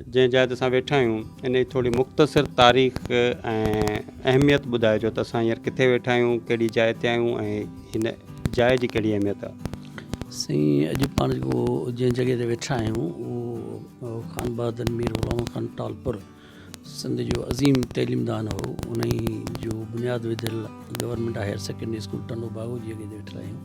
جنهن جاء تي اسان ويٺا آهيون ان جي ٿوري مختصر تاريخ ۽ اهميت ٻڌائجو ته اسان هينئر ڪٿي ويٺا آهيون ڪهڙي جاء تي آهيون ۽ هن جاء جي ڪهڙي اهميت آهي. سائين اڄ پاڻ جيڪو جنهن جڳهه تي ويٺا آهيون اهو خان بهادر مير غلام محمد خان ٽالپر سنڌ جو عظيم تعليمدان هو انهي جو بنياد وڌل government higher secondary school Tando Bago جي اڳي تي ويٺل آهيون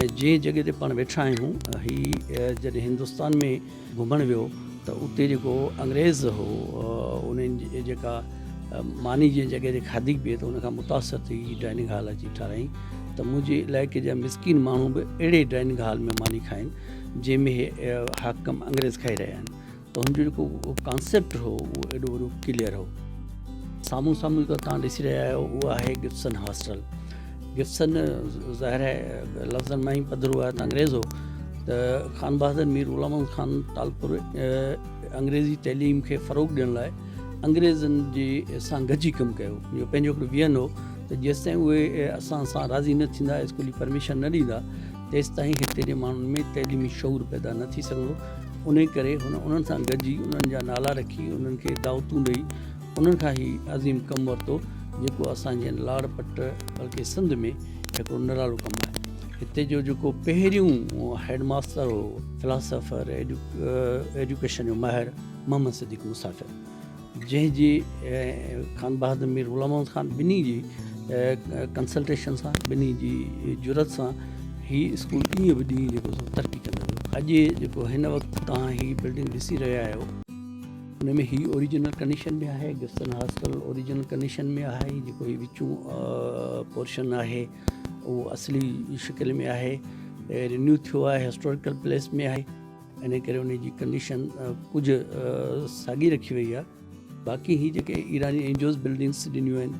۽ جنهن جڳهه تي پاڻ ويٺا آهيون هي جڏهن هندستان ۾ گهمڻ ويو ته اتي جيڪو انگريز هو انهن جيڪا ماني جنهن جڳهه تي کاڌي پيئي ته ان کان متاثر ٿي هي ڊائننگ هال اچي ٺارايائين ته منهنجي علائقي جا مسڪين ماڻهو به اهڙي ڊائننگ هال ۾ ماني کائين جنهن ۾ حاڪم انگريز کائي رهيا آهن تنهن جو جيڪو ڪانسيپٽ هو اهو ايڏو وڏو ڪليئر هو. سامهون سامهون جيڪا توهان ڏسي رهيا آهيو اهو آهي گبسن هاسٽل. گبسن ظاهر آهي لفظن مان ئي پڌرو آهي ته انگريز هو ته خان بهادر مير غلام محمد خان ٽالپر انگريزي تعليم کي فروغ ڏيڻ لاء انگريزن جي سان گڏجي ڪم ڪيو. اهو پنهنجو هڪڙو ويهن هو ته جيستائين اهي اسان سان راضي نه ٿيندا اسڪول جي پرميشن نه ڏيندا تيستائين هتي جي ماڻهن ۾ تعليمي شعور پيدا نه ٿي سگهندو، انهيء ڪري هن انهن سان گڏجي انهن جا نالا رکي، انهن کي دعوتون ڏئي، انهن کان هي عظيم ڪم ورتو، جيڪو اسان جي هن لاڙ پٽ بلڪه سنڌ ۾ هڪڙو نرالو ڪم آهي. هتي جو جيڪو پهريون هيڊ ماستر هو، فلاسافر، ايڊيوڪيشن جو ماهر محمد صديق مسافر، جنهن جي خان بهادر مير غلام محمد خان ٻنهي جي ڪنسلٽيشن سان ٻنهي جي جرئت سان هي اسڪول ڏينهن به ڏينهن جيڪو سو ترقي ڪندو ويو اڄ جيڪو هن وقت توهان هي بلڊنگ ڏسي رهيا آهيو ان ۾ هي اوريجنل ڪنڊيشن ۾ آهي گسٽن هاسٽل اوريجنل ڪنڊيشن ۾ آهي جيڪو هي وچون پورشن آهي اهو اصلي شڪل ۾ آهي رينيو ٿيو آهي هسٽوريڪل پليس ۾ آهي انهيء ڪري انهيء جي ڪنڊيشن ڪجهه ساڳي رکي وئي آهي. باقي هي جيڪي ايراني اينجوز بلڊنگس ڏنيون آهن،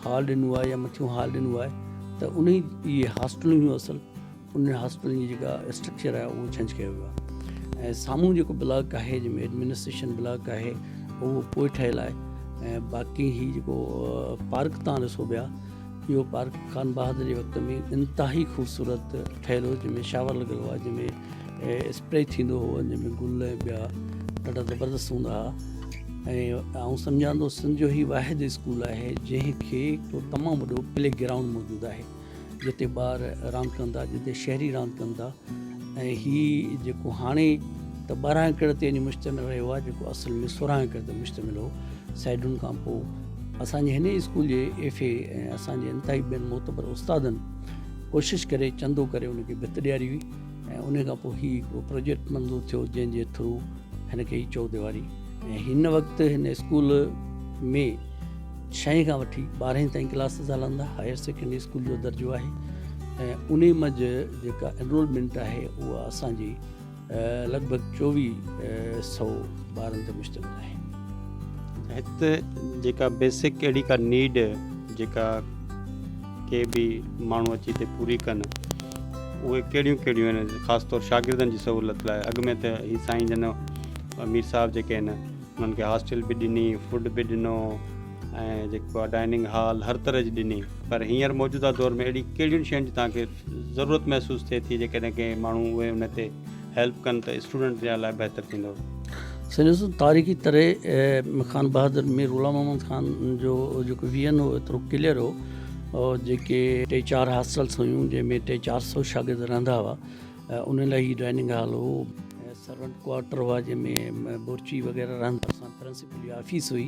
هال ڏنو آهي يا مٿيون هال ڏنو آهي ته انهي اهي هاسٽلون هيون اصل انهن هاسٽلن جي جيڪا اسٽرڪچر آهي اهو چينج ڪيو ويو آهي ۽ سامهون جيڪو بلاڪ آهي جنهن ۾ ايڊمنسٽريشن بلاڪ آهي اهو پوء ٺهيل آهي ۽ باقي هي جيڪو پارڪ تان ڏسو پيا اهو پارڪ خان بهادر جي وقت ۾ انتهائي خوبصورت ٺهيل هو جنهن ۾ شاور لڳل هئا جنهن ۾ اسپري ٿيندو هو جنهن ۾ گل ۽ ٻيا ڏاڍا زبردست هوندا هئا ۽ آئون سمجهان ٿو سنڌ جو هي واحد اسڪول آهي جنهن کي هڪ تمام وڏو پلي گرائونڊ موجود آهي جتي ٻار راند ڪندا جتي شهري راند ڪندا ۽ هي جيڪو هاڻي ته ٻارهن ڪڙ تي وڃي مشتمل رهيو آهي جيڪو اصل ۾ سورهن ڪڙ تي مشتمل هو سئيڊن کان پوء اسان جي هن ئي اسڪول جي ايف اي ۽ اسان جي انتهائي ٻين معتبر استادن ڪوشش ڪري چندو ڪري ان کي ڀت ڏياري هئي ۽ ان کان پوء هي هڪڙو پروجيڪٽ منظور ٿيو جنهن جي ٿرو هن کي هي چوديواري ۽ هن وقت هن اسڪول ۾ ڇهين کان وٺي ٻارهين تائين ڪلاسز هلندا هائر سيڪنڊري اسڪول جو درجو آهي ۽ ان منجھ جيڪا انرولمنٽ آهي اها اسان جي لڳ ڀڳ چوويهه سو ٻارن تي مشتمل آهي هتي جيڪا بيسڪ اهڙي ڪا نيڊ جيڪا ڪي به ماڻهو اچي هتي پوري ڪن اهي ڪهڙيون ڪهڙيون آهن خاص طور شاگردن جي سهولت لاء اڳ ۾ ته هي سائين جن مير صاحب جيڪي آهن انهن کي هاسٽل به ڏني، فوڊ به ڏنو ۽ جيڪو آهي ڊائننگ هال هر طرح جي ڏني پر هينئر موجوده دور ۾ اهڙي ڪهڙين شين جي توهان کي ضرورت محسوس ٿئي ٿي جيڪڏهن ڪي ماڻهو اهي ان تي هيلپ ڪن ته اسٽوڊنٽ جي لاء بهتر ٿيندو. سائين ڏسو تاريخي طرح خان بهادر مير غلام محمد خان جو جيڪو ويزن هو ايترو ڪليئر هو جيڪي ٽي چار هاسٽلس هيون جنهن ۾ ٽي چار سو شاگرد رهندا هئا انهن لاء هي ڊائننگ هال هو ۽ سرونٽ ڪوارٽر هئا جنهن ۾ بورچي وغيره رهندا اسان پرنسپل جي آفيس هئي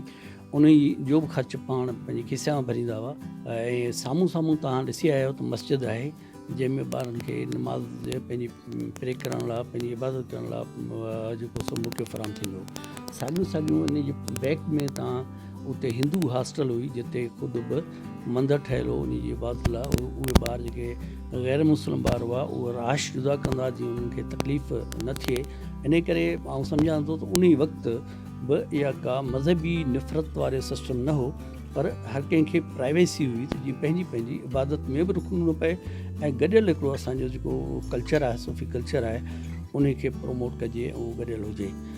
انهي جو به خرچ پاڻ پنهنجي کيسي مان ڀريندا هئا ۽ سامهون سامهون توهان ڏسي آيا آهيو ته مسجد آهي جنهن ۾ ٻارن کي نماز پنهنجي پري ڪرڻ لاء پنهنجي عبادت ڪرڻ لاء جيڪو سو موقعو فراهم ٿيندو هو ساڳيون ساڳيون ان جي بيڪ ۾ توهان اتي هندو هاسٽل هئي جتي خود به مندر ٺهيل هو انهي جي عبادت لاء اهي ٻار جيڪي غير مسلم ٻار هئا اهي رهائش جدا ڪندا جيئن انهن کي تڪليف نه ٿئي انهي ڪري آئون سمجهان ٿو ته انهي وقت به اها ڪا مذهبي نفرت واري سسٽم نه هو پر هر ڪنهن کي پرائيويسي هئي ته جيئن پنهنجي پنهنجي عبادت ۾ به رکڻو نه پئي ۽ گڏيل هڪڙو اسان جو جيڪو ڪلچر آهي صوفي ڪلچر آهي انهي کي پروموٽ ڪجي ۽ گڏيل هجي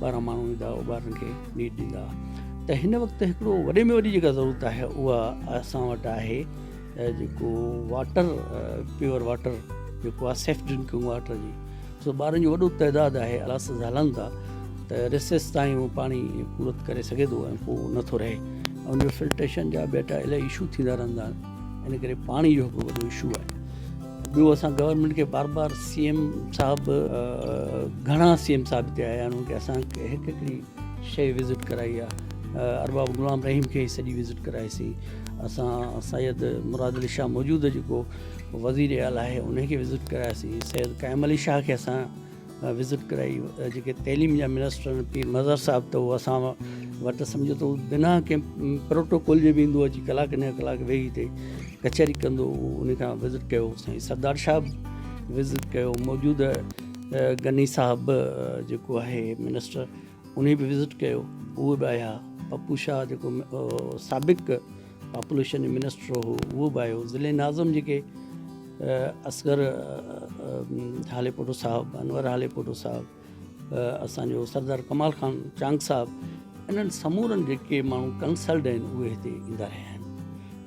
ٻارهن ماڻهو ايندا او ٻارن کي نيٽ ڏيندا ته هن وقت هڪڙو وڏي ۾ وڏي جيڪا ضرورت آهي اها اسان وٽ آهي جيڪو واٽر پيور واٽر جيڪو آهي سيف ڊرنڪنگ واٽر جي سو ٻارن جو وڏو تعداد آهي الاس هلن ٿا ته رسيس تائين اهو پاڻي پورت ڪري سگهي ٿو ۽ پوء نٿو رهي ان جو فلٽريشن جا ٻيٽا الاهي ايشو ٿيندا رهندا آهن ان ڪري پاڻي جو هڪ وڏو ايشو آهي ٻيو اسان گورنمينٽ کي بار بار سي ايم صاحب گهڻا سي ايم صاحب هتي آيا آهن اسان کي هڪ هڪڙي شيء وزٽ ڪرائي آهي ارباب غلام رحيم کي سڄي وزٽ ڪرائي سي اسان سيد مراد علي شاهه موجوده جيڪو وزير اعليٰ آهي ان کي وزٽ ڪرائي سي سيد قائم علي شاهه کي اسان وزٽ ڪرائي جيڪي تعليم جا منسٽر پير مظهر صاحب ته اسان وٽ سمجھو ته بنا ڪنهن پروٽوڪول جي ويندو اچي ڪلاڪ ڏهه ڪلاڪ ويهي هتي ڪچهري ڪندو ان کان وزٽ ڪيو سائين سردار شاهه به وزٽ ڪيو موجوده غني صاحب به جيڪو آهي منسٽر انهي به وزٽ ڪيو اهي به آيا پپو شاهه جيڪو سابق پاپوليشن جو منسٽر هو اهو به آيو ضلعي ناظم جيڪي اصغر هاليپوٽو صاحب انور هاليپوٽو صاحب اسان جو سردار ڪمال خان چانگ صاحب انهن سمورن جيڪي ماڻهو ڪنسلڊ آهن اهي هتي ايندا رهيا آهن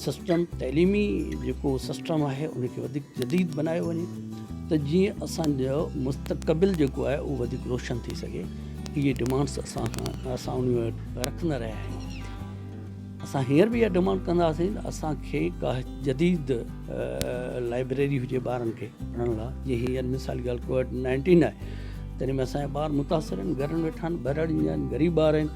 سسٽم تعليمي جيڪو سسٽم آهي ان کي وڌيڪ جديد بنايو وڃي ته جيئن اسانجو مستقبل جيڪو آهي اهو وڌيڪ روشن ٿي سگهي اهي ڊمانڊس اسان کان اسان ان وٽ رکندا رهيا آهيون اسان هينئر به اها ڊمانڊ ڪنداسين اسانکي ڪا جديد لائبريري هجي ٻارن کي پڙهڻ لاء جيئن هينئر مثال ڳالهه ڪووڊ نائنٽين آهي تڏهن ۾ اسانجا ٻار متاثر آهن گهرن ويٺا آهن ٻهراڙين جا آهن غريب ٻار آهن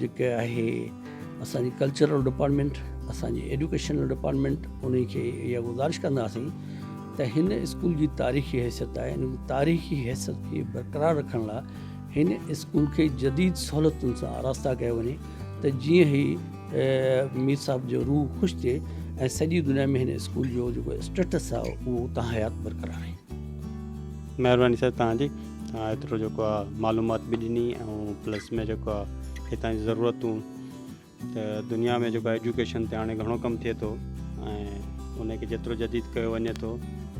جيڪي آهي اسان جي ڪلچرل ڊپارٽمينٽ اسان جي ايڊوڪيشنل ڊپارٽمينٽ انهي کي اها گذارش ڪنداسين ته هن اسڪول جي تاريخي حيثيت آهي ان تاريخي حيثيت کي برقرار رکڻ لاء هن اسڪول کي جديد سهولتن سان آراسته ڪيو وڃي ته جيئن هي مير صاحب جو روح خوش ٿئي ۽ سڄي دنيا ۾ هن اسڪول جو جيڪو اسٽيٽس آهي اهو اتان حيات برقرار رهي مهرباني سر تهان جي ايترو جيڪو آ معلومات به ڏني ۽ پلس ۾ جيڪو آ هتان جي ضرورتون ته دنيا ۾ جيڪو ايجوڪيشن تي هاڻي گهڻو ڪم ٿئي ٿو ۽ ان کي جيترو جديد ڪيو وڃي ٿو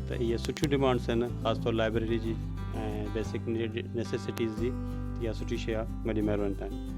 ته اهي سٺيون ڊمانڊس آهن خاص طور لائبريري جي ۽ بيسڪ نيسيسٽيز جي اها سٺي شيء آ وڏي مهرباني تنهنجي.